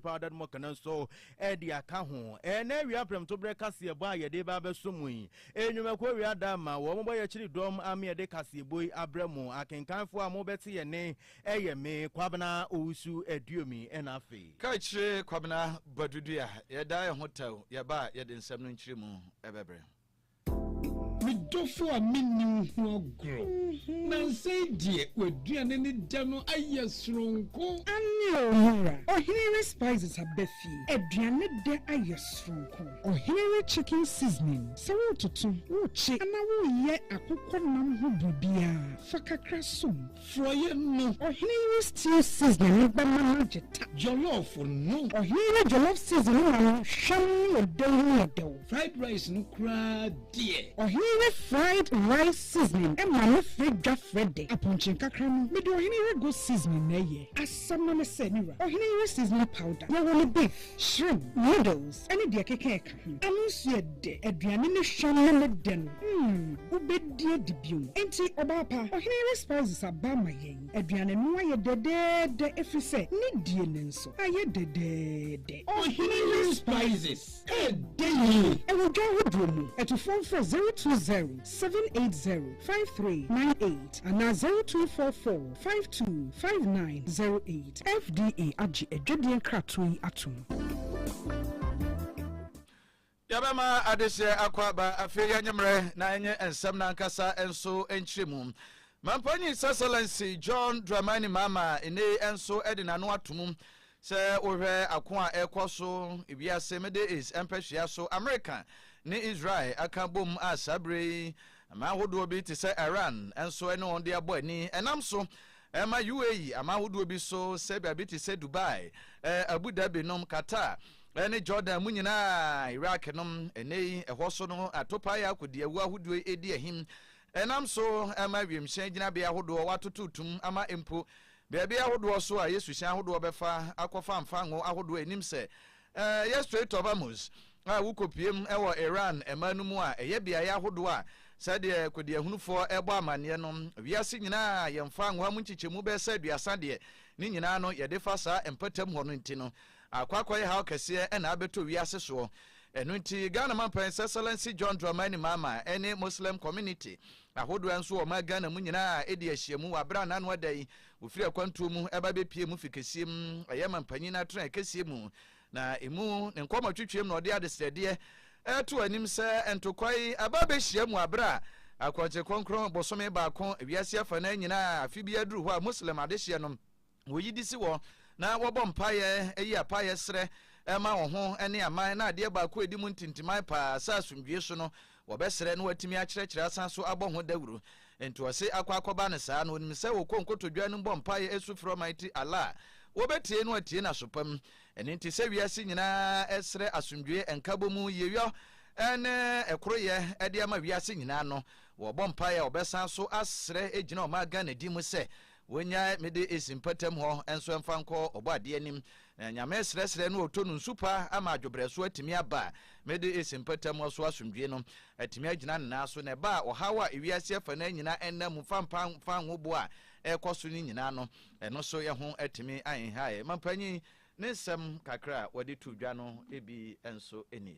Paa da no mu kana nso de aka ho. Ɛnnɛ awia prɛmtoberɛ kaseɛbɔ a yɛde reba abɛso mu yi, nnwumakuo wei ada ama wɔn bɔ yɛkyiri dɔm ama yɛde kaseɛbɔ yi abrɛ mo. Akenkanfoɔ a mobɛte yɛn nne yɛ me, Kwabena Owusu Aduomi, ɛna afei. Kaakyire Kwabena Badu Dua. Yɛdaa yɛn ho tɛw, yɛba a yɛde nsɛm no nkyerɛmu bɛbrɛ. Me dɔfo a menni wo ho agorɔ. Nansa yi deɛ w'aduane ne dɛ no ayɛ soronko. Aane o, me wura. Ɔhene re spices aba fie. Aduane dɛ ayɛ soronko. Ɔhene re chicken seasoning. Sɛ wototo, wokye anaa woreyɛ akokɔ nam ho biribiara, fa kakra som. Frɔeɛ no. Ɔhene yi stew season no bɛma no agye ta. Jollof no. Ɔhene yi ne jollof season no ma no hwam ne ɔdɛw ho yɛ dɛw. Fried rice no koraa deɛ. Ɔhene yi ne fried rice seasoning ma no frɛ dwa frɛ dɛ. Apɔnkye nkakra no. Mede ɔhene yi rego seasoning na ɛyɛ. Asɛm no ne sɛ, me wura, ɔhene yi seasoning powder, yɛwɔ no beef, shrimp, noodles, ne deɛ ɛkeka ɛka. Ano nso yɛ dɛ, aduane no hwa na ne dɛ no, mm, wobɛdi adi bio. Enti, ɔbaa pa, Ɔhene Arispizes aba ama yɛn. Aduane no ayɛ dɛdɛɛdɛ, ɛfiri sɛ ne die no nso ayɛ dɛdɛɛdɛ. Ɔhene Arispizes, ɛyɛ dɛ yie. Ɛwɔ dwa ahodoɔ mu. Atufoɔ mfrɛ 020. seven eight zero five three nine eight anaa zero two four four five two five nine zero eight. FDA agye adwadie nkratoɔ yi atom. Yɛbɛma adehyeɛ akɔ aba afei anwummerɛ na ɛnyɛ nsɛm no ankasa nso nkyerɛmu. Mampanyin His Excellency John Dramani Mahama nnɛyi nso de n'ano ato mu Sɛ wohwɛ ako a ɛrekɔ so wiase Middle East mpɛsua so, Amerika ne Israel aka abom a saa bere yi aman ahodoɔ bi te sɛ Iran nso ne wɔn de abɔ ani. Ɛnam so ma UAE aman ahodoɔ bi so sɛ baabi te sɛ Dubai, Abu Dhabi nom, Qatar ne Jordan mu nyinaa, Iraq nom. Ɛnnɛ yi ɛhɔ so no atopaeɛ akodiawu ahodoɔ redi ahim. Ɛnam so ma wiemhyɛn gyinabea ahodoɔ wɔatoto tum ama mpo Baabi ahodoɔ so a Yesu hyɛn ahodoɔ bɛfa akɔ fa mfa ngo ahodoɔ a ɛnim sɛ ɛyɛ Strait of Hormuz a wokɔpuem wɔ Iran man no mu a ɛyɛ beaeɛ ahodoɔ a sɛdeɛ kɔdiahunufoɔ bɔ amanneɛ no wiase nyinaa a yɛmfa ngo a mu nkyekyɛmu bɛyɛ sɛ aduasa deɛ ne nyinaa no yɛde fa saa mpatam hɔ no nti no akɔ akɔyɛ haw kɛseɛ na abɛtɔ wiase soɔ ɛno nti Ghana Mampan His Excellency John Dramani Mahama ne Muslim Community Ahodoɔ nso wɔ ɔman Ghana mu nyinaa a ɛdi ahyiamu wɔ aberɛ a n'ano ada yi wɔfiri akwantuo mu ɛba bɛpie mu fi kɛseɛ mu ɛyɛ manpanyin no atrɛn kɛseɛ mu na ɛmu ne nkɔmmɔtwetweɛm na ɔde adesrɛdeɛ ɛreto anim sɛ ntokwa yi ɛba abɛhyia mu aberɛ a akwankyerɛ kronkron bosome baako wiase afanaa nyinaa afe biara duru hɔ a Muslim adehyeɛ no Wɔyi de si hɔ na wɔbɔ mpaeɛ, yi apaeɛ srɛ ma wɔn ho ne aman, na adeɛ baako a ɛdi mu ntintiman paa sɛ asomdwoeɛ su no, wɔbɛsrɛ na wɔatumi akyerɛkyerɛ asan so abɔ ho dawuro. Enti ɔse akɔ akɔba no saa no, ɔnim sɛ wɔkɔ nkotodwe anom bɔ mpaeɛ su frɛ Almighty Allah a, wɔbɛtie na wɔatie no aso pa mu. Ɛno nti sɛ wiase nyinaa srɛ asomdwoeɛ, nkabɔmu, yieyɔ ne ɛkoroyɛ de ama wiase nyinaa no, wɔbɔ mpaeɛ a wɔbɛsan so asrɛ gyina wɔn ara Ghana din mu sɛ Wonyae me de esi mpɔtam hɔ nso mfa nkɔ Ɔbɔadeɛ anim. Na Nyame srɛsrɛ no a ɔtɔ no nsu pa ama adwobrɛso atumi aba a, me de esi mpɔtam hɔ so asomdwie no atumi agyina ne nan so. Na ɛba a, ɔhaw a ewiase afanaa nyinaa ɛnam mu fa mpa mfa ahuboa a ɛrekɔ so no nyinaa no, ɛno nso ho atumi ahenhae. Mampanyin, ne nsɛm kakra a wɔde too dwa no bi nso nie.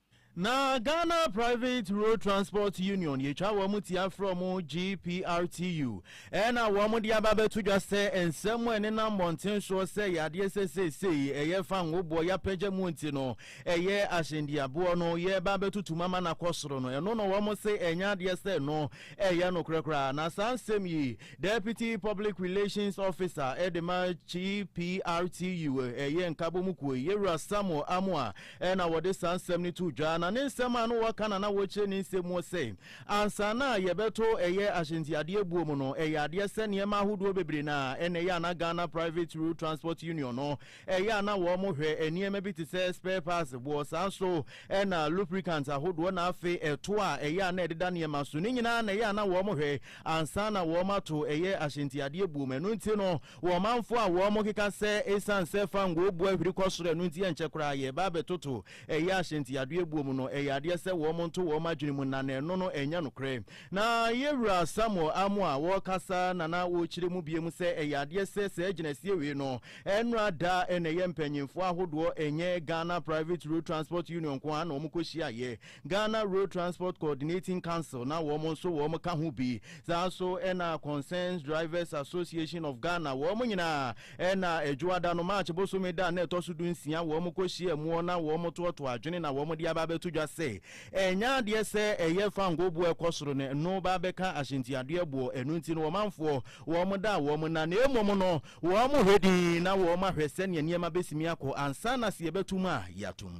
Na Ghana Private Road Transport Union yɛtwa wɔn ti afrɛ wɔn GPRTU na wɔn de aba abɛto dwa sɛ nsɛm a ɛne nam mmɔnten soɔ sɛ yɛ adeɛ sɛ seesei ɛyɛ fa nwoboɔ yɛapagya mu nti no ɛyɛ ahyɛndiaboɔ no yɛreba abɛtutu mu ama no akɔ soro no ɛno no wɔn se ɛnyɛ adeɛ sɛ no ɛyɛ nokorɛ koraa na saa nsɛm yi Deputy Public Relations Officer ɛde ma GPRTU ɛyɛ nkabɔ mu kuo yi yɛwura Samuel Amoah Ɛna wɔde saa nsɛm no too dwa, na ne nsɛm a na wɔka na na wɔkyerɛ ne nsɛm mu sɛ, ansa na yɛbɛto ɛyɛ ahyɛntiadeɛ buo mu no, ɛyɛ adeɛ sɛ nneɛma ahodoɔ bebree na ɛna ɛyɛ a na Ghana Private Road Transport Union no ɛyɛ a na wɔn hwɛ nneɛma bi te sɛ spare parts boɔ, saa nso ɛna lubricant ahodoɔ na afei ɛto a ɛyɛ a na ɛdeda nneɛma so no nyinaa na ɛyɛ a na wɔn hwɛ ansa na wɔn ato ɛyɛ ahyɛntiadeɛ buo mu. Ɛno nti no, Wɔ ɔmanfo a wɔkeka sɛ esiane sɛ fangoo bu ahwiri kɔ soro ɛno nti ɛnkyɛ koraa yɛreba abɛtoto ɛyɛ ahyɛntiadoɛbuo mu no, ɛyɛ adeɛ sɛ wɔn nto wɔn adwene mu na na ɛno no ɛnyɛ nokorɛ. Na yɛn Wura Samuel Amoah a ɔrekasa na na ɔrekyerɛ mu biom sɛ ɛyɛ adeɛ sɛ saa gyinasie wei no ɛnra da na ɛyɛ mpanyinfoɔ ahodoɔ ɛnyɛ Ghana Private Road Transport Union nko ara na wɔkɔhyiaeɛ Ghana Road Transport Coordinating Council na wɔn nso wɔn ka ho bi, saa nso na Concerned Drivers Association of Ghana, wɔn nyinaa na Adwoada no, March bosome da a na ɛtɔ so du nsia, wɔn kɔ hyia muɔ na wɔn toɔtoɔ adwene na wɔn de aba abɛto dwa sɛ, ɛnyɛ adeɛ sɛ ɛyɛ fangoo boɔ ɛkɔ soro no, ɛno ba abɛka ahyɛntiadeɛ boɔ, ɛno nti no ɔmanfoɔ wɔn da a wɔn na, na mmom no wɔn hwɛ dinn na wɔn ahwɛ sɛdeɛ nneɛma bɛsimi akɔ ansa na sɛ yɛbɛto mu a, yɛato mu.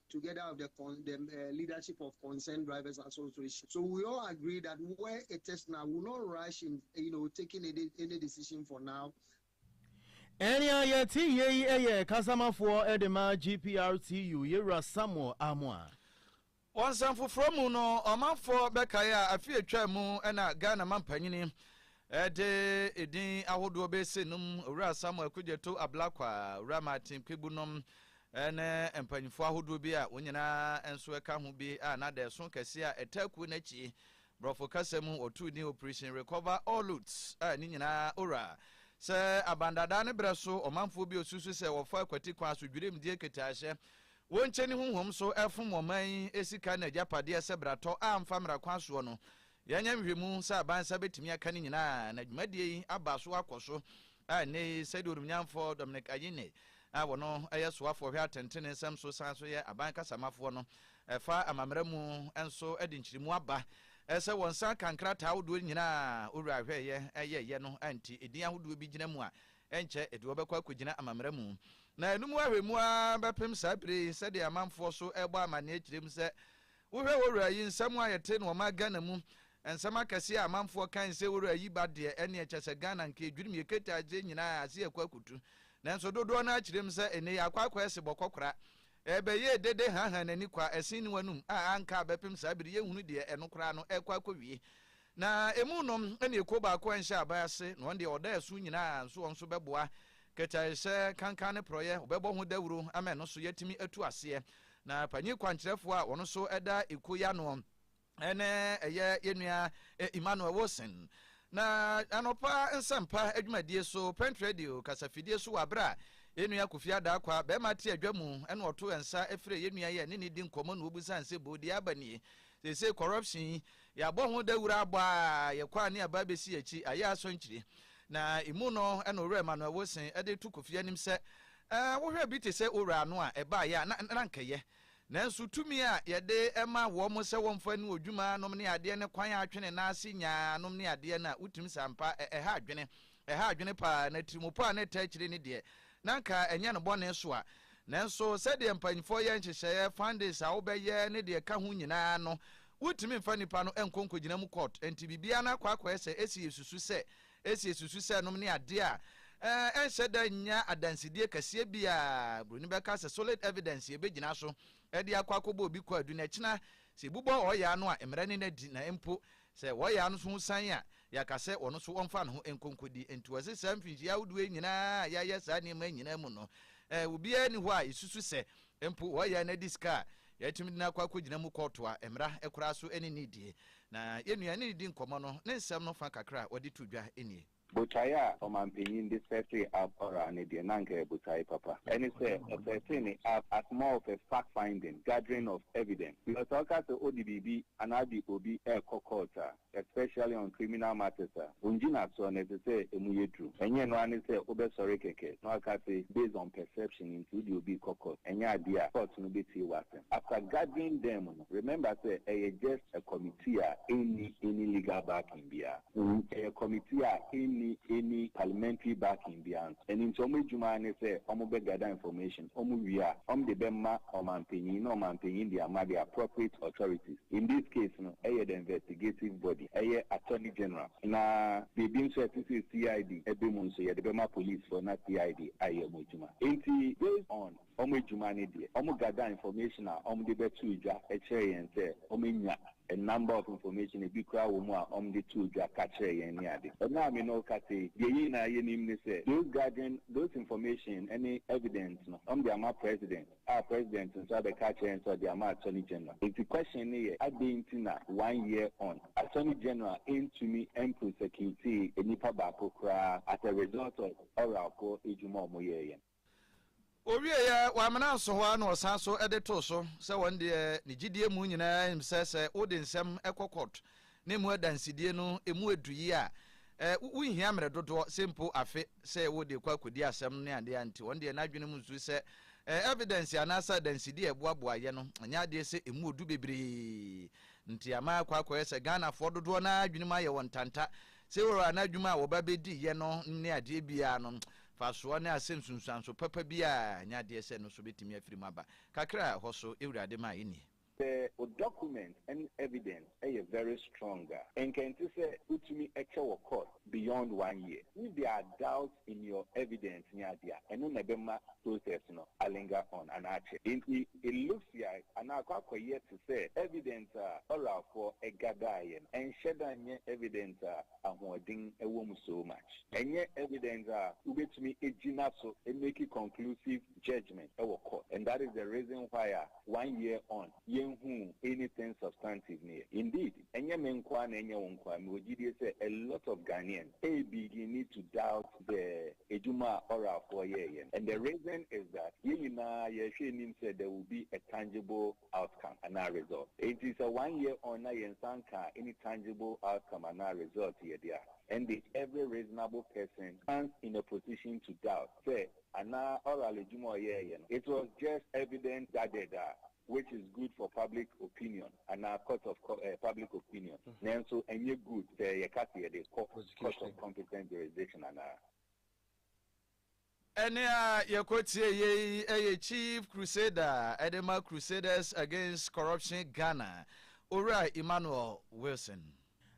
together of the con the uh, leadership of concerned drivers association. So we all agree that where it is now, we will not rush in, you know, taking any, any decision for now. ɛnea yɛte yie yi yɛ kasamafoɔ de ma gprtu yɛwura samuel amoa wɔ nsɛm foforɔ mu no ɔmanfoɔ bɛkae a afe atwa mu na ghana mampanyini ɛde edin ahodoɔ bɛsɛ nom owura samuel kogyeto ablakwa owura martin kpebu nom ne mpanyimfo ahodoɔ bi a wɔn nyinaa nso ɛka ho bi a na dɛɛso kɛseɛ a ɛtaa kuo no akyi, Borɔfo kasa mu wɔtoo din Operation Recover All Loot a ne nyinaa ɔwura sɛ abandadaa ne berɛ so ɔmanfoɔ bi a wɔsusu sɛ wɔfa akwati kwan so dwirimdie nkitahyɛ wɔnkyɛni honhom so fom ɔman yi sika ne agyapadeɛ sɛ bratɔ a mfa mmara kwan soɔ no Yɛanyɛ nhwehwɛmu sɛ aban nsa betumi aka ne nyinaa na dwumadie yi aba so akɔ so a ɛnnɛ yi, sɛdeɛ Onimnyamfoɔ Dominic Ayine a ɔno yɛ soafoɔ hwɛ atɛntene nsɛm so san nso yɛ aban kasamafoɔ no fa amammara mu nso de nkyeremu aba sɛ wɔn nsa aka nkrataa ahodoɔ nyinaa a Owura Ahwɛeɛ yɛeɛ no a nti edin ahodoɔ bi gyina mu a ɛnkyɛ ɛde wɔbɛkɔ akɔgyina amammara mu na ɛno mu ahwɛ mu ara bɛpem saa bere yi sɛdeɛ amanfoɔ so rebɔ amanneɛ kyerɛ mu sɛ Wohwɛ wo wura yi nsɛm a yɛte no ɔman Ghana mu nsɛm akɛseɛ a amanfoɔ kan sɛ wo wura yi ba deɛ ɛneɛ kyɛsɛ Ghana nka ɛdwirim yɛ ketaadze nyinaa ase akɔ akutu nanso dodoɔ no ara kyerɛm sɛ ɛnɛ yi akɔ akɔ ɛse bɔkɔ kora ɛbɛyɛɛ dede haha nani kwa ɛsen ne wanum a anka abɛpem saa bere yɛnhunu deɛ ɛno koraa no ɛkɔ akɔwie Na emu nom ne ekuo baako a nhyɛ aban ase, na wɔn deɛ wɔda ɛso nyina ara, nso wɔn nso bɛboa kɛtɛaehyɛ, kankan ne porɔeɛ, wɔbɛbɔ ho dawuro ama ɛno nso yɛatumi atu aseɛ. Na panyin kwankyerɛfoɔ a ɔno nso da ekuo yi ano ne ɛyɛ yɛn nua Emmanuel Wilson. Na anɔpa nsɛmpa adwumadie so, Print Radio kasafidie so wɔ aberɛ a yɛn nua Kofi Adaakwa, barima te adwa mu, ɛna ɔtoo nsa frɛɛ yɛn nua yi a ɛne ne di nkɔmmɔ na wɔbisa nsɛbuo deɛ aba nie. Seesei corruption yi, yɛabɔ ho dawuru abɔ a yɛkɔ a ne yɛaba abɛsi akyi, ayɛ asɔnkyire. Na ɛmu no na Owura Emmanuel Wilson de reto Kofi anim sɛ, Eh, wohwɛ bi te sɛ Owura no a, ɛbaeɛ a, na, na anka ɛyɛ. Nanso tumi a yɛde ma wɔn sɛ wɔmfa nni odwuma nom ne adeɛ ne kwan a atwe ne nan ase nyaa nom ne adeɛ no a, wotumi sɛ ampa ɛha adwene. Ɛha adwene paa, na atirimpɔ a na ɛtaa akyire ne deɛ na anka ɛnyɛ no bɔne soa. Nanso, sɛdeɛ mpanimfoɔ yɛ nhyehyɛeɛ, fundings a wobɛyɛ ne deɛ ɛka ho nyinaa no, wontumi mfa nnipa no nkɔ nkɔgyina mu court. Enti biribiara no akɔ akɔyɛ sɛ esi esusu sɛ esi esusu sɛ nom ne adeɛ a ɛnhyɛ da nnya adansedie kɛseɛ biara. Buroni bɛka sɛ solid evidence yɛbɛgyina so de akɔ akɔbɔ obi kwaadu na ɛkyena sɛ yɛbobɔ ɔɔyaa no a, mmara no nna di na mpo Sɛ wɔyɛ ano so san a, yɛaka sɛ ɔno nso ɔmfa ne ho nkɔ nkodi. Enti wɔse saa mfinhyia ahodoɔ yi nyinaa a yɛayɛ saa nneɛma yi nyinaa mu no, eh, obiara nni hɔ a yɛsusu sɛ mpo wɔyɛ na ɛde sika a yɛatumi de no akɔ akɔgyina mu kɔɔto a mmara koraa so ne no redie. Na yɛn nua ne redi nkɔmmɔ no, ne nsɛm no fa kakra a ɔde too dwa nie. Botae a ɔmampanyin de sɛɛtee App Ora no deɛ, na anka ɛyɛ botae papa. Ɛne sɛ, ɔsɛɛtee ne app as more of a fact-finding, gathering of evidence. Because sɛ ɔka sɛ odi biribi anaa ɔde obi rekɔ court a, especially on criminal matters a, ongyinasoɔ no, ɛsɛ sɛ ɛmu yɛ duru. Ɛnyɛ ɛno ara ne sɛ wobɛsɔre kɛkɛ na waka se based on perception nti wode obi rekɔ court. Ɛnyɛ adeɛ a court no bɛtie w'asɛm. After gathering them no, remember sɛ ɛyɛ just a committee a ɛnni any legal backing biara. Ɛyɛ committee a ɛnni any parliamentary backing biara nso. Ɛno nti wɔn adwuma ara ne sɛ wɔn bɛ gather information, wɔn wie a wɔn de bɛ ma ɔmanpanyin na ɔmanpanyin de ama the appropriate authorities. In this case no ɛyɛ the investigative body, ɛyɛ attorney general na biribi nso a ɛte sɛ CID ɛbɛ mu nso yɛde bɛma police foɔ na CID ayɛ wɔn adwuma. Ɛnti based on Wɔn adwuma ne deɛ wɔn gather information a wɔn de bɛtoo dwa kyerɛ yɛn sɛ wɔn anya a number of information ebi koraa wɔ mu a wɔn de too dwa ka kyerɛ yɛn ne ade. Ɛnnɛ a me ne wo kasa yi deɛ yɛn nyinaa yɛnim ne sɛ those gathering those information ne evidence no wɔn de ama president a president nso abɛka akyerɛ yɛn sɛ ɔde ama attorney general. Nti question no yɛ adɛn nti na one year on attorney general ntumi mprosecutee nnipa baako koraa as a result of Oralfoɔ adwuma a wɔyɛeɛ no. Ɔwieeɛ, wammena nso hɔ ara na ɔsan so de too so sɛ wɔn deɛ ne gyidie mu nyinaa nim sɛ sɛ wode nsɛm kɔ kɔɔt na ɛmu adansedie no ɛmu ɛdu yie a, wonhia mmerɛ dodoɔ sɛ mpo afe sɛ wode kɔ akɔdi asɛm ne adeɛ a nti wɔn deɛ n'adwene mu nso sɛ evidence anaasɛ adansedie a ɛboaboa yɛ no ɛnyɛ adeɛ sɛ ɛmu ɔdu bebree nti ama akɔ akɔyɛ sɛ Ghanafoɔ dodoɔ no ara adwene mu ayɛ wɔn ntanta sɛ wɔwɔ anaa adwuma a wɔba bɛdi yɛ no ne adeɛ biara no Mfasoɔ ne asɛm nsunsuanso papa biara nyɛ adeɛ sɛ ɛno nso bɛtumi afiri mu aba. Kakra a ɛhɔ so Awurade maeɛ nie. Sɛ wo document ne evidence yɛ very strong a, nka ɛnte sɛ wotumi kyɛ wɔ court beyond one year. If there are doubts in your evidence ne adeɛ a, ɛno na ɛbɛma process no a linger on anaa akyɛ. Enti it looks yike anaa akɔ akɔyɛ te sɛ evidence a oralfoɔ gadaeɛ no, ɛnhyɛda nyɛ evidence a ahoɔden wɔ mu so much. Ɛnyɛ evidence a wobɛtumi agyina so amake conclusive judgement wɔ court and that is the reason why a one year on yɛnhuu anything substantive no yɛ. Indeed, ɛnyɛ me nko ara na ɛnyɛ wo nko ara, mewɔ gyidie sɛ a lot of Ghanaians ɛrebigini to doubt the adwuma a oralfoɔ yɛeɛ no and the reason is that yɛn nyinaa yɛrehwɛ anim sɛ there will be a tangible outcome anaa result. Enti sɛ one year on na yɛn nsa nkaa any tangible outcome anaa result yɛ de a, ɛnde every reasonable person stands in a position to doubt sɛ anaa oral adwuma a ɔyɛɛeɛ no it was just evidence gathered a which is good for public opinion anaa court of public opinion nanso ɛnyɛ good sɛ yɛka sɛ yɛde kɔ court of competent jurisdiction anaa. Ɛnne a yɛkɔtiee yei yɛ Chief Crusader de ma Crusaders Against Corruption Ghana, Owura Emmanuel Wilson.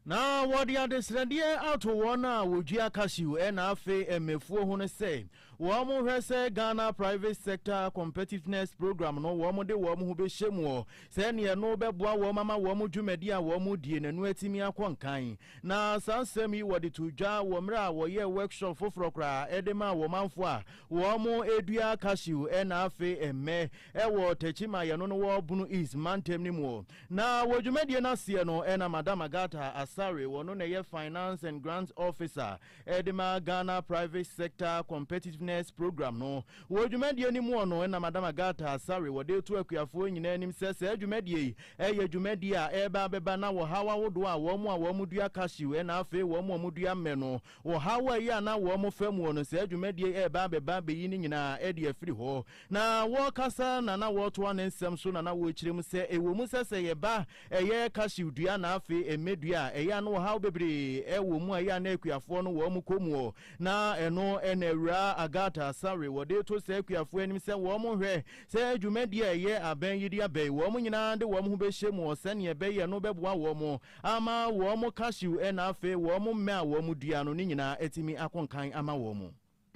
Na wɔde adesrɛdeɛ ato wɔn a wɔdua cashew na afe mmafuo ho no sɛ wɔnhwɛ sɛ Ghana Private Sector Competitiveness Programme no wɔde wɔn ho bɛhyɛ mu sɛdeɛ ɛno bɛboa wɔn ama wɔn dwumadi a wɔredie no atumi akɔ nkan Na saa nsɛm yi wɔde too dwa wɔ mmerɛ a wɔyɛɛ workshop foforɔ koraa de maa wɔn manfoɔ a wɔredua cashew na afei mmɛ wɔ Tachima a yɛno no wɔ Bono East mantam no mu. Na wɔ dwumadie no aseɛ no na Madam Agatha Asare, wɔno na ɛyɛ Finance and Grants Officer ɛde ma Ghana Private Sector Competitiveness Programme no. Wɔ dwumadie no mu ɔno na Madam Agatha Asare wɔde to akuafoɔ nyinaa anim sɛ saa dwumadie yi yɛ dwumadie a ɛreba abɛba na wɔhaw ahodoɔ a wɔn a wɔn dua cashew ɛna afei wɔn a wɔn dua mmɛ no wɔhaw a ɛyɛ a na wɔn fa muo no saa dwumadie yi ɛreba abɛba abɛyi ne nyinaa ɛde afiri hɔ. Na wɔrekasa na na wɔretoa ne nsɛm so na na wɔrekyerɛ mu sɛ ɛwɔ mu sɛ sɛ yɛba Ɛyɛ kasiw dua na afei ɛmmɛ dua a ɛyɛ a na ɔhaw bebree wɔ mu a ɛyɛ a na akuafoɔ no wɔn kɔ mu ɔ. Na ɛno na Awuraa Agatha Asare wɔde to saa akuafoɔ anim sɛ wɔn nhwɛ sɛ dwumadie a ɛyɛ abɛn yi de abɛn wɔn nyinaa de wɔn ho bɛhyɛ mu ɔ sɛdeɛ ɛbɛyɛ no bɛboa wɔn ama wɔn kasiw na afei wɔn mmɛ a wɔn dua no ne nyinaa atumi ako nkan ama wɔn.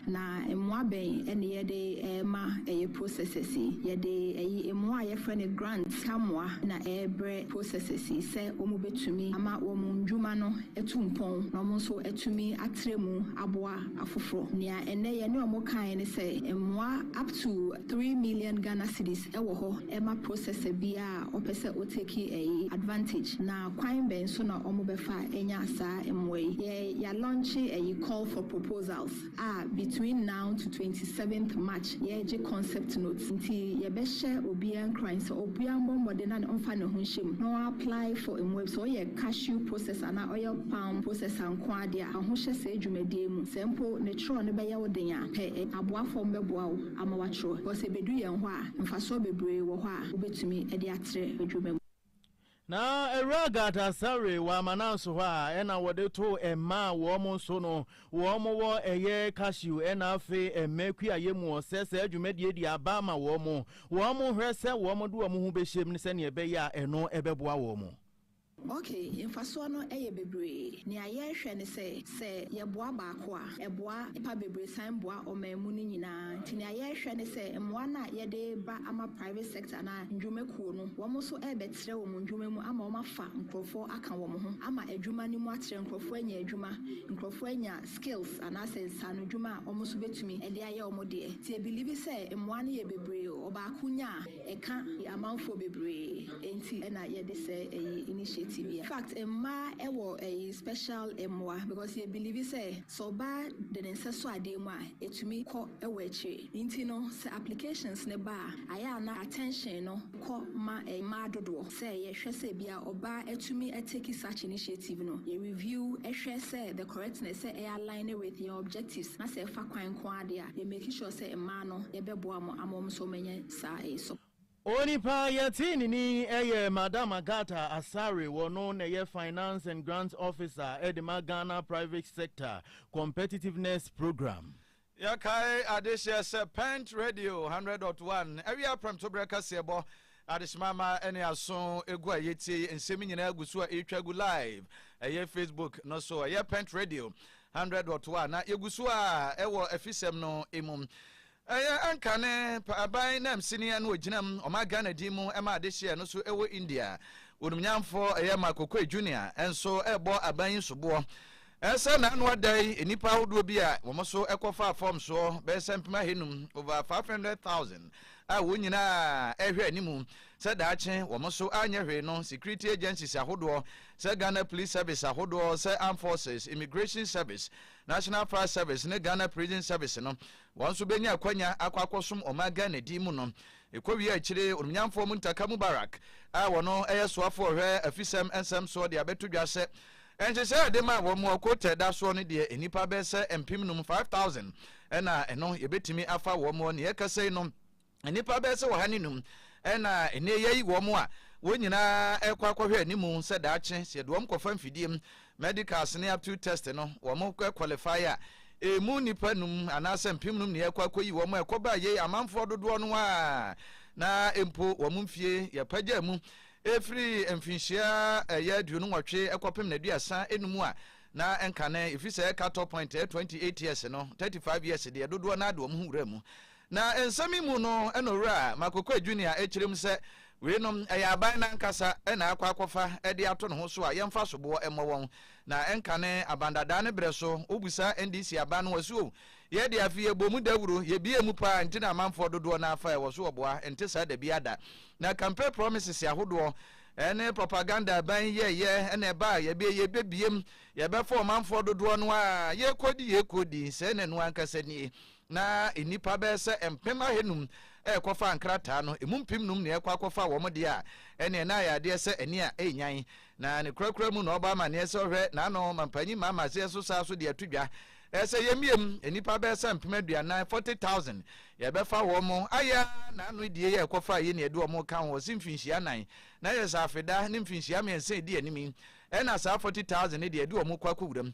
Na mmoa bɛn ne yɛde rema ɛyɛ processes yi? Yɛde ɛyi mmoa a yɛfrɛ no grant mmoa na ɛrebrɛ processes yi sɛ wɔn bɛtumi ama wɔn ndwuma no atu mpɔn na wɔn nso atumi atrɛ mu aboa afoforɔ. Nea ɛnnɛ yɛne wɔn kaeɛ ne sɛ mmoa up to. Three million Ghana cedis wɔ hɔ ma processor biaa a ɔpɛ sɛ o take ɛyi advantage na kwan bɛn so na ɔmo bɛfa anya saa mmoa yi? Yɛ ya launche ɛyi call for proposals a between now to twenty seventh March yɛɛgye concept notes nti yɛ bɛ hyɛ obiaa nkuran sɛ obiaa mmɔ mmɔden na ne ɔnfa ne ho nhyɛ mu na ɔ apply for mmoa bi sɛ ɔyɛ cashew processor anaa ɔyɛ palm processor nkoaa deɛ a fa ho hyɛ saa dwumadie mu sɛ mpo ne kyerɛw no bɛyɛ wo den a pɛ aboafo a ɔmo bɛboa wo. ama wɔakyerɛw hɔ. Sɛ ebedu yɛn hɔ a, mfaso bebree wɔ hɔ a wobetumi de atrɛ adwuma mu. Na Awuraa Gardasare wɔ Amananso hɔ a ɛna wɔde to mma a wɔn nso no wɔn wɔ ɛyɛ Cashew ɛna afei ɛmɛ kuayɛ mu wɔ sɛ saa dwumadie de aba ama wɔn. Wɔn hwɛ sɛ wɔn de wɔn ho bɛhyɛm sɛdeɛ ɛbɛyɛ a ɛno ɛbɛboa wɔn. Ok, mfasoɔ no yɛ bebree. Nea yɛrehwɛ ne sɛ, sɛ yɛboa baako a, ɛboa nnipa bebree san boa ɔman mu no nyinaa. Nti nea yɛrehwɛ ne sɛ mmoa no a yɛde reba ama private sector anaa nnwuma kuo no, wɔn nso rebɛtrɛ wɔn nnwuma mu ama wɔafa nkorɔfoɔ aka wɔn ho ama adwuma no mu atrɛ, nkorɔfoɔ anya adwuma, nkorɔfoɔ anya skills anaasɛ nsaano dwuma a wɔn nso bɛtumi de ayɛ wɔn deɛ. Nti yɛbelieve sɛ mmoa no yɛ bebree, ɔbaako nya a, Ɛka yɛ amanfoɔ bebree enti na yɛde sɛ ɛyi initiative yi. Fact mmaa ɛwɔ ɛyi special mmoa because yɛ believe sɛ sɛ ɔbaa de ne nsa sɔ adeɛ mu a ɛtumi kɔ ɛwɔ akyire nti no sɛ applications no ba a ayɛ a na attention no kɔ ma mmaa dodoɔ sɛ yɛ hwɛ sɛ bia ɔbaa atumi atake such initiative no yɛ review ɛhwɛ sɛ the correctness sɛ ɛyɛ aline with yɛn objectives na sɛ ɛfa kwan nko ara deɛ a yɛ make sure sɛ mmaa no yɛbɛboa mo ama wɔn nso wɔanya saa nso. Onipa a yɛtee ne din yɛ Madam Agatha Asare, ɔno na ɛyɛ Finance and Grants Officer de ma Ghana Private Sector Competitiveness Programme. Yɛkae adehyeɛ sɛ Pent Radio 100 dot 1 awia prɛmtoberɛ kaseɛbɔ adehyeman ma ɛne aso egu a yɛtie yi nsɛm nyinaa gu so a ɛretwa gu live ɛyɛ Facebook no so ɛyɛ Pent Radio 100 dot 1 na yɛgu so a ɛwɔ afisɛm no emu Ɛyɛ Anka ne Paaban Namsini a na ɔgyinam ɔman Ghana din mu ma adehyeɛ no so wɔ India. Onumnyamfoɔ ɛyɛ Mark Okoye Junior nso rebɔ aban yi soboɔ sɛ n'ano ada yi nnipa ahodoɔ bi a wɔn nso kɔfaa fam soɔ bɛyɛ sɛ mpem ahanum, over 500,000, a wɔn nyinaa ɛrehwɛ anim sɛ daakye wɔn nso anyɛ hwee no security agencies ahodoɔ sɛ Ghana Police Service ahodoɔ sɛ Armed Forces, Immigration Service National Fire Service ne Ghana Prison Service no, wɔn nso bɛnya akwanya akɔ akɔsom ɔman Ghana din mu no. Ɛkɔwie a akyire, Onumnyamfoɔ Muntaka Mubarak a ɔno yɛ soafoɔ a ɔhwɛ afisɛm nsɛm soɔ de abɛto dwa sɛ, nhyehyɛeɛ a yɛde maa wɔn wɔ Kotɛ da soɔ no deɛ, nnipa bɛyɛ sɛ mpem nnum, 5,000, na ɛno yɛbɛtumi afa wɔn wɔ nea ɛrekasa yi no. Nnipa bɛyɛ sɛ ɔha ne num na ɛnɛ yɛayi wɔn a wɔn nyinaa ɛkɔ akɔhwɛ anim sɛ daakye sɛ yɛde wɔn kɔfa mfidie medicals ne aptitude test no wɔn qualify a ɛmu nnipa num anaasɛ mpem num ne yɛkɔ akɔyi wɔn a ɛkɔba yei amanfoɔ dodoɔ no a na mpo wɔn mfie yɛpagya mu ɛfiri mfinhyia ɛyɛ aduonu nwɔtwe ɛkɔpem na aduasa enum a na ɛnka ne ɛfiri sɛ ɛka tɔ point 28 years no 35 years deɛ dodoɔ no ade wɔn ho wura mu Na nsɛm yi mu no na Owura Makokua Junior kyerɛm sɛ weinom yɛ aban no ankasa na akɔ akɔfa de ato ne ho so a yɛmfa soboɔ mmɔ wɔn. Na ɛnkane aban dadaa no berɛ so, wobu saa NDC aban no asu o. Yɛ deɛ afei yɛbɔɔ mu dawuro, yɛbiee mu paa nti na amanfoɔ dodoɔ no ara fa ɛwɔ so ɔboa, ɛnte saa dabiara da. Na campaign promises ahodoɔ ne propaganda aban yi yɛɛyɛ na ɛba a yɛbɛɛ yɛbɛbiem, yɛbɛfa ɔmanfoɔ dodoɔ no ara, yɛɛkɔɔdi yɛɛkɔɔdi, sɛɛ na ɛno ankasa nie. na nnipa bɛyɛ sɛ mpem ahanum rekɔfa nkrataa no, emu mpem num na ɛrekɔ akɔfa wɔn deɛ a, ɛnneɛ na ayɛ adeɛ sɛ ani a ɛrenyan. Na ne korakora mu na ɔbɔ amanneɛ sɛ ɔhwɛ n'ano ma mpanyin Mahama aseɛ so saa so de ato dwa sɛ yɛmmiam nnipa bɛyɛ sɛ mpem aduanan, 40,000, yɛbɛfa wɔn. Ayɛ ara na ano adie yɛ rekɔfa yei na yɛde wɔn reka ho. Ɔse mfinhyia anan na yɛ Saafeda ne mfinhyia mmiɛnsa a ɛdi anim yi na saa 40,000 no deɛ yɛde wɔn rekɔ akɔwuram.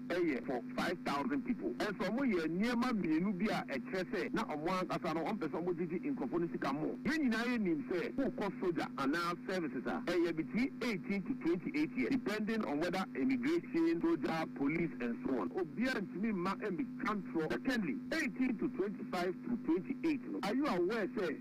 yɛ for five thousand people nso wɔn yɛɛ nneɛma mmienu bi a ɛkyerɛ sɛ na wɔn ankasa no wɔn pɛ sɛ wɔn gyegye nkurɔfoɔ no sika more yɛn nyinaa yɛ nim sɛ wo kɔ sogya anaa services a ɛyɛ between eighteen to twenty eight years depending on whether immigration sogya police and so on obiara ntumi mma ɛmmi ka ntorɔ secondly eighteen to twenty five to twenty eight no are you aware sɛ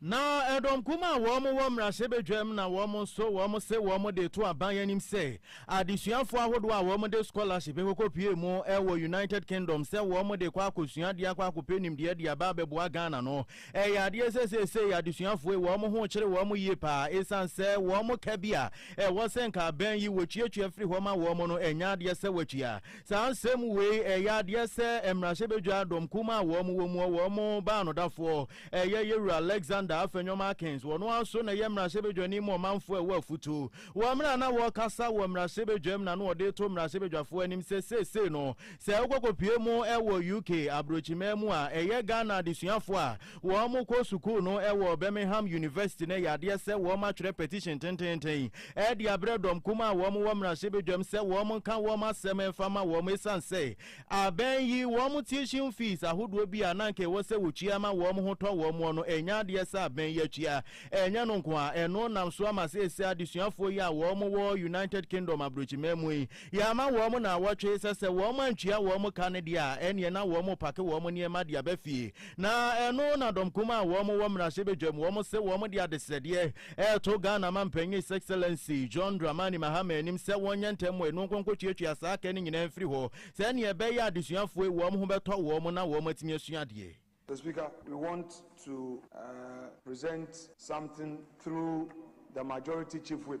Na ɛdɔm kum a wɔn wɔ mmarahyɛbadwam na wɔn nso wɔn se wɔn de to aban anim sɛ adesuafoɔ ahodoɔ a wɔn de scholarship kɔkɔ pue mu wɔ United Kingdom sɛ wɔn de kɔ akɔsua adeɛ akɔ akɔpɛ nimdeɛ de aba abɛboa Ghana no ɛyɛ adeɛ sɛ seesei adesuafoɔ yi wɔn ho kyere wɔn yie paa ɛsiane sɛ wɔn ka bi a ɛwɔ sɛ nka aban yi wɔtuatua firi hɔ ma wɔn no ɛnyɛ adeɛ sɛ wɔatua saa nsɛm wei ɛyɛ adeɛ sɛ mmarahyɛbadwa dɔm kum a wɔn wɔ mu wɔn baanodafoɔ Ɛyɛ yɛ wura Alexander Afenwam Akins, wɔn ara nso na ɛyɛ mmarahyɛbadwani ma ɔmanfoɔ a ɛwɔ afutuo. Wɔ mmerɛ a na wɔrekasa wɔ mmarahyɛbadwam na na ɔde reto mmarahyɛbadwafoɔ anim sɛ seesei no sɛ wokɔkɔpue mu wɔ UK aburokyimaa mu a ɛyɛ Ghana adesuafoɔ a wɔkɔ sukuu no wɔ Birmingham University no ɛyɛ adeɛ sɛ wɔatwerɛ petition tenteenten de abrɛ dɔm kumaa a wɔwɔ mmarahyɛbadwam sɛ wɔnka wɔn asɛm mfa ma wɔn ɛsiane sɛ Abɛn yi, wɔn tuition fees ahodoɔ bi a na anka ɛwɔ sɛ wɔtua ma wɔn ho tɔ wɔn no, ɛnyɛ adeɛ sɛ abɛn yi atua. Ɛnyɛ no nko ara, ɛno nam so ama seesei adesuafoɔ yi a wɔwɔ United Kingdom abrokyiman mu yi, yɛama wɔn nnawɔtwe sɛ sɛ wɔantua wɔn ka no deɛ a, ɛnneɛ na wɔrepake wɔn nneɛma de aba fie. Na ɛno na dɔm kumaa a wɔn wɔ mmarahyɛbadwam, wɔn se wɔn de adesrɛdeɛ reto Ghana Manpanyin His Excellency John Dramani Mahama anim sɛ wɔnyɛ ntɛm mmɔ anu nko nkɔtuatua saa kɛ no nyinaa mfiri hɔ sɛdeɛ ɛbɛyɛ a adesuafoɔ yi wɔn ho bɛtɔ wɔn na wɔn atumi asua adeɛ. Mister Speaker, we want to present something through the Majority Chief Whip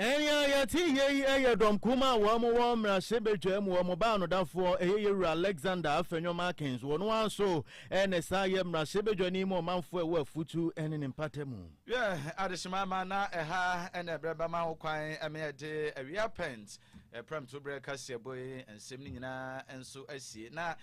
Ɛyɛ a yɛte yei yɛ dɔm kum a wɔn wɔ mmarahyɛbadwa mu, wɔn baa no dafoɔ ɛyɛ yɛwura Alexander Afenyo Markins, wɔn ara nso na saa yɛ mmarahyɛbadwani mu ɔmanfoɔ ɛwɔ afutu ne ne mpata mu. Yɛ adehyema ma na ɛha na ɛberɛ bɛma ho kwan ma yɛde awia pɛnt prɛmto berɛ kaseɛbɔ yi nsɛm no nyinaa nso asie na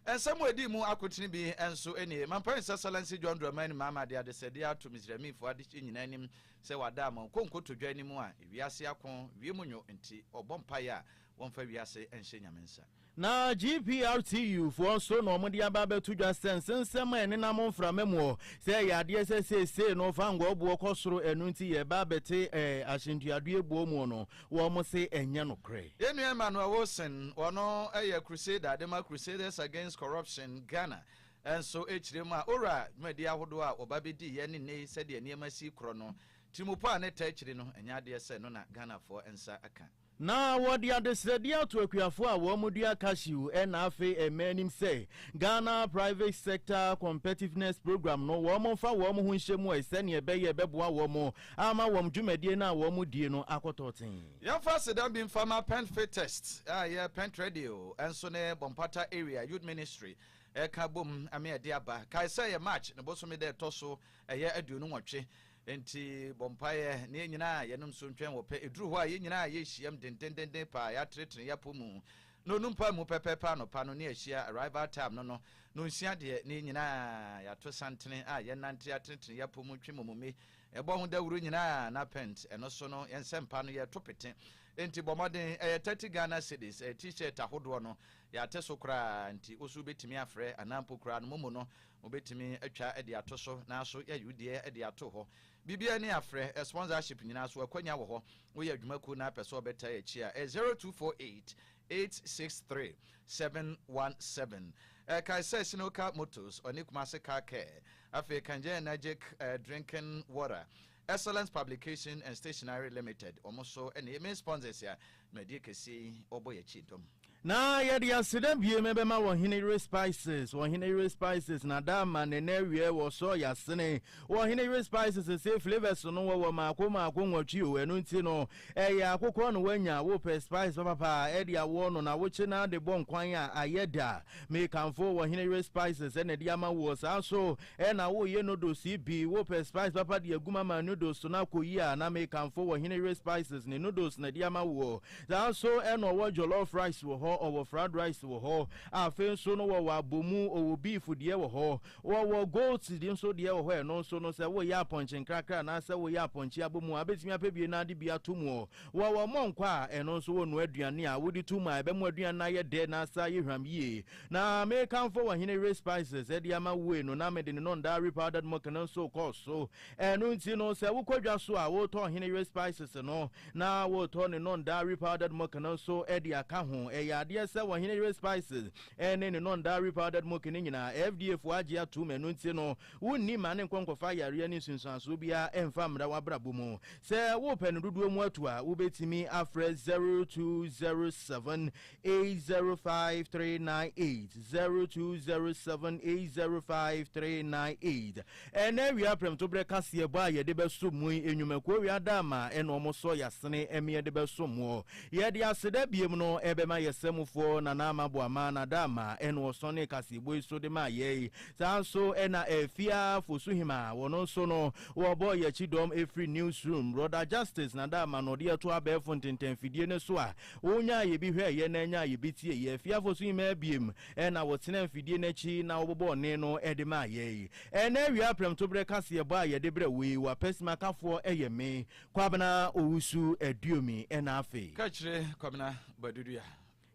nsɛm a ɛdi mu akotene bi nso nie, Mampanin Sasala nsi John Dramani Mahama de adesɛdeɛ ato Misraimifoɔ adehyeɛ nyinaa anim Sɛ wada ama ɔkɔ nkotodwe anim a, wiase ako, wiem nwo nti, ɔbɔ mpaeɛ a, wɔmfa wiase nhyɛ Nyame nsa. Na GPRTU foɔ nso na wɔde aba abɛto dwa sɛ nsensɛm a ɛnenam mframa mu hɔ, sɛ ɛyɛ adeɛ sɛ seesei no Vanguo boɔ kɔ soro ɛno nti yɛreba abɛte ɛɛ ahyɛntuadeɛ boɔ mu no, wɔn se ɛnyɛ nokorɛ. Yɛn nua Emmanuel Wilson, ɔno yɛ Crusader de ma Crusaders Against Corruption Ghana, Nso akyire mu a ora dwumadie ahodoɔ a wɔba bɛdiiɛ ne nnɛ yi sɛdeɛ nneɛma si korɔ no, tirimupo a ne ta akyiri no, ɛnyɛ adeɛ sɛ ɛno na Ghanafoɔ nsa aka. Na wɔde adesrɛdeɛ ato akuafoɔ a wɔdua cashew ɛna afei ɛmma anim sɛ Ghana Private Sector Competitiveness Programme no wɔmfa wɔn ho nhyɛ mu ɛ sɛdeɛ ɛbɛyɛ ɛbɛboa wɔn ama wɔn dwumadie no a wɔdie no akɔ tɔɔten. Yɛmfa aseda bi mfa ma Pentfitest a ɛyɛ Pentredio nso ne Bompata Area Youth Ministry Ɛka bom me ɛde aba. Kae sɛ ɛyɛ March ne bosome da ɛtɔ so ɛyɛ aduonu nwɔtwe. Enti bɔ mpaeɛ na yɛn nyinaa yɛnom nsuo ntwɛn wɔ pɛ. Ɛduru hɔ a yɛn nyinaa yɛhyiam dendendenden paa a yɛatenetene yɛn apɔ mu na ɔnu mpae mu pɛpɛɛpɛ anɔpa no ne ahyia arrival time no no nonsia deɛ na yɛn nyinaa yɛato santene a yɛnante atenetene yɛn apɔ mu twe momome ɛbɔ ho dawuro nyinaa na pent ɛno so no yɛn nsɛmpa no yɛto pete. Enti bɔ mmɔden ɛyɛ 30 Ghana cedis ɛyɛ t-shirt ahodoɔ no Yɛate so koraa nti, wo nso wubetumi afrɛ, anaa mpo koraa no, mo mu no, mubetumi atwa de ato so. Nanso, yɛayi wo deɛ de ato hɔ. Biribiara nni afrɛ, sponsorship nyinaa so, akwannya wɔ hɔ. Woyɛ adwuma kuw na apɛ sɛ wɔbɛtaa akyi a, ɛyɛ zero two four eight, eight six three, seven one seven. Kae sɛ Sinocar Motors, ɔne Kumasi Car Care, afei Kanjanagic Drinking Water, Excellence Publication and Stationery Limited wɔn nso na ɛyɛ main sponsors a dwumadie kɛseɛ yi wɔbɔ yɛn akyi dɔm. Na yɛde aseda biem bɛma Ɔhene Yere Spices, Ɔhene Yere Spices na da ama ne nna awiɛ wɔ soro yɛ asene. Wɔ Ɔhene Yere Spices se flavours no wɔwɔ maako maako nwɔtwe o, ɛno nti no ɛyɛ akokɔ na wanya, wopɛ spice papapa a ɛde awɔ no na wokye na de bɔ nkwan a ayɛ da. Mekamfo Ɔhene Yere Spices na ɛde ama woɔ saa nso Ɛna wo ye noodles yi bi wo pɛ spice papa de agu ma ma noodles to no akɔ yie a na me kamfo wɔ hene yere spices ne noodles na de ama woɔ saa nso ɛna ɔwɔ jollof rice wɔ hɔ ɔwɔ fried rice wɔ hɔ afei nso no wɔwɔ abomu ɔwɔ beef deɛ wɔ hɔ wɔwɔ goat de nso deɛ wɔ hɔ ɛno nso no sɛ wo yɛ apɔnkye nkrakra anaa sɛ wo yɛ apɔnkye abomu a bɛtumi apɛ bie na ade bi ato muɔ wɔwɔ mɔnkɔ a ɛno nso wɔ nua aduane a wo de to mu a ɛbɛ mu aduane na ayɛ dɛ na asa yɛ hwam yie Na mekamfo ɔhene we spices de ama woe no na mede ne nondaa we powdered milk no nso kɔɔ so. Ɛno nti no, sɛ wokɔ dwa so a, wotɔ ɔhene we spices no na wotɔ ne nondaa we powdered milk no nso de aka ho. Ɛyɛ adeɛ sɛ ɔhene we spices ne ne nondaa we powdered milk no nyinaa, FDA foɔ agye atom, ɛno nti no, wonni mma ne nkɔ nkɔfa ayareɛ ne nsunsuansoɔ biara mfa mmra w'abrabɔ mu. Sɛ wopɛ no dodoɔ mu atu a, wobɛtumi afrɛ 0207 eight zero five three nine eight zero two zero seven eight zero five three nine eight ɛna awia prɛmtoberɛ kaseɛ bɔ a yɛde bɛso mu yi nnwumakuo wia da ama ɛna wɔn sɔ yasene ɛmi yɛde bɛso mu yɛde aseda biem no ɛbɛma yɛ sɛmufoɔ nana ama bɔ ama na da ama ɛna wɔsɔn ne kaseɛ bɔ yi so de ma yɛ yi saa nso ɛna ɛfia fosuhima wɔn nso no wɔbɔ yɛkyi dɔm ɛfiri newsroom rɔda justice na da ama no ɔde ɛto abɛɛfo ntentɛnfidie ne so a Wonyaa yɛ bi hwɛeɛ na nyaa yɛ bi tieeɛ. Fie afosu yi mmaa biem na wɔtenaa mfidie no akyi na wɔbobɔɔ ne no de maa yɛn. Ɛnnɛ awia prɛmtoberɛ kaseɛbɔ a yɛde brɛ wo yi, w'apɛsimakafoɔ yɛ me, Kwabena Owusu Aduomi na afei. Ka kyerɛ Kwabena Baduduah.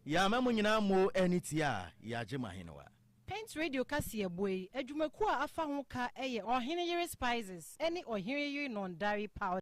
Yɛama mo nyinaa mmo ani tia a, yɛagye mo ahenewa. Paint Radio kaseɛbɔ yi adwumakuo a afa ho ka yɛ Ɔhene Yere Spices ne Ɔhene Yere Nɔndare Powder.